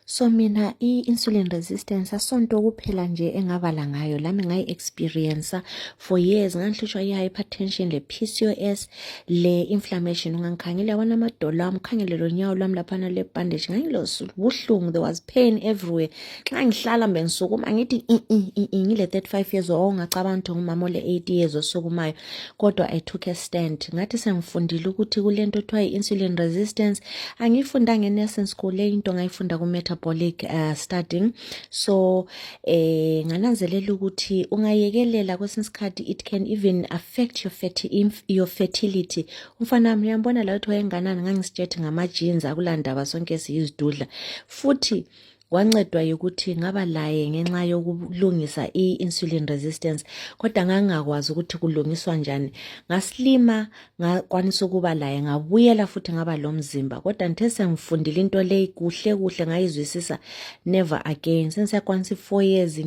so mina i-insulin resistance asonto kuphela nje engabala ngayo lami ngayi experiencer for years ngangihlutshwa i-hypertension le-pcos le-inflammation ungangikhangele yabona amadolo ami ukhangele lonyawo lwami laphana lebhandage ngangilobuhlungu there was pain everywhere nxa ngihlala mbe ngisukuma ngithi i-i ngile-thirty five years old ongacabanga ukuthi ngumama ole-eighty years osukumayo kodwa i took a stand ngathi sengifundile ukuthi kulento othiwa i-insulin resistance angiyifundanga enursing school le into ngayifunda ku-metabolic uh, studying so eh ngananzelela ukuthi ungayekelela kwesinye isikhathi it can even affect your, ferti your fertility umfana wami uyambona la ukuthi wayenganani ngangisitshethi ngama-jeans akulandaba sonke siyizidudla futhi wancedwa yikuthi ngaba laye ngenxa yokulungisa i-insulin resistance kodwa ngangingakwazi ukuthi kulungiswa njani ngasilima ngakwanisa ukuba laye ngabuyela futhi ngaba lomzimba kodwa ngithe sengifundile into leyi kuhle kuhle ngayizwisisa never again sensiyakwanisa i-four years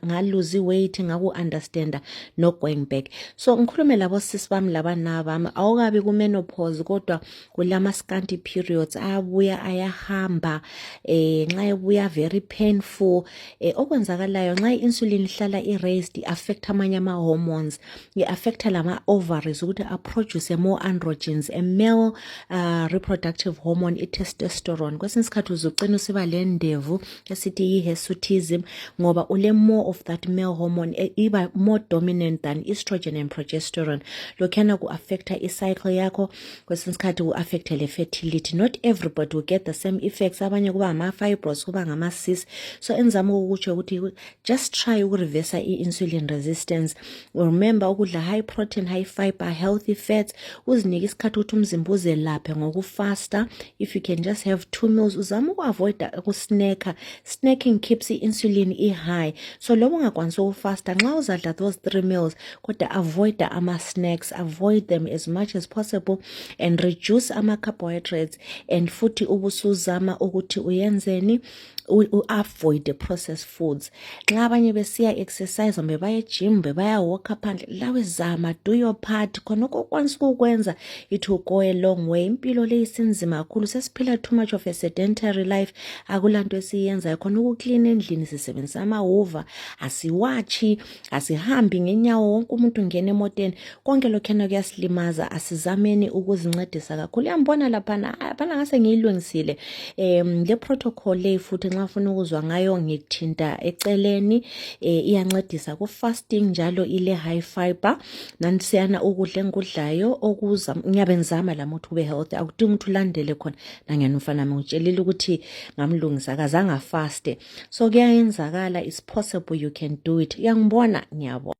ngaluze i-weight ngaku-understanda no-going back so ngikhulume labo sisi bami labanaa bami awukabi kumenopause kodwa kulama scanty periods ayabuya ayahamba eh nxa ebuya very painful eh okwenzakalayo nxa insulin ihlala i raised i affect amanye ama hormones i affect lama ovaries ukuthi a produce more androgens a male uh, reproductive hormone i testosterone kwesinye isikhathi uzucina usiba lendevu esithi yi hirsutism ngoba ule more of that male hormone e, iba more dominant than estrogen and progesterone lokhana ku affecta i cycle yakho kwesinye isikhathi ku-affecte le-fertility not everybody will get the same effects abanye kuba ngama-fibros kuba ngama-sis so enzama ukukutsho ukuthi just try ukurevesa i-insulin resistance remember ukudla high protein high fiber healthy fats uzinike isikhathi ukuthi umzimba uzelaphe ngokufasta if you can just have two meals uzama uku-avoida ukusneka snacking keeps i-insulin i-high so loba ungakwanisa ukufasta nxa uzadla those three meals kodwa avoid ama-snacks avoid them as much as possible and reduce ama-carbohydrates and futhi ubusuzama ukuthi uyenzeni u-avoid the processed foods nxa abanye besiya exercise kumbe baye gym kumbe bayawalka phandle lawe zama do your part khonokho okwanisa ukukwenza it will go a long way impilo leyi sinzima kakhulu sesiphila too much of a sedentary life akula nto esiyenzayo khona ukuklina endlini sisebenzisa amahova asiwatshi asihambi ngenyawo wonke umuntu ngena emoteni konke lokhuyana kuyasilimaza asizameni ukuzincedisa kakhulu yambona laphana phana ngase ngiyilungisile um le protocol leyi futhi nxa funa ukuzwa ngayo ngithinta eceleni um iyancedisa ku-fasting njalo ile-high fiber nansiyana ukudla engikudlayo okuza ngiyabe ngizama lami ukuthi ube healthy akudingi ukuthi ulandele khona nangena umfana mi ngitshelile ukuthi ngamlungisa kazange afaste so kuyayenzakala it's possible you can do it uyangibona ngiyabona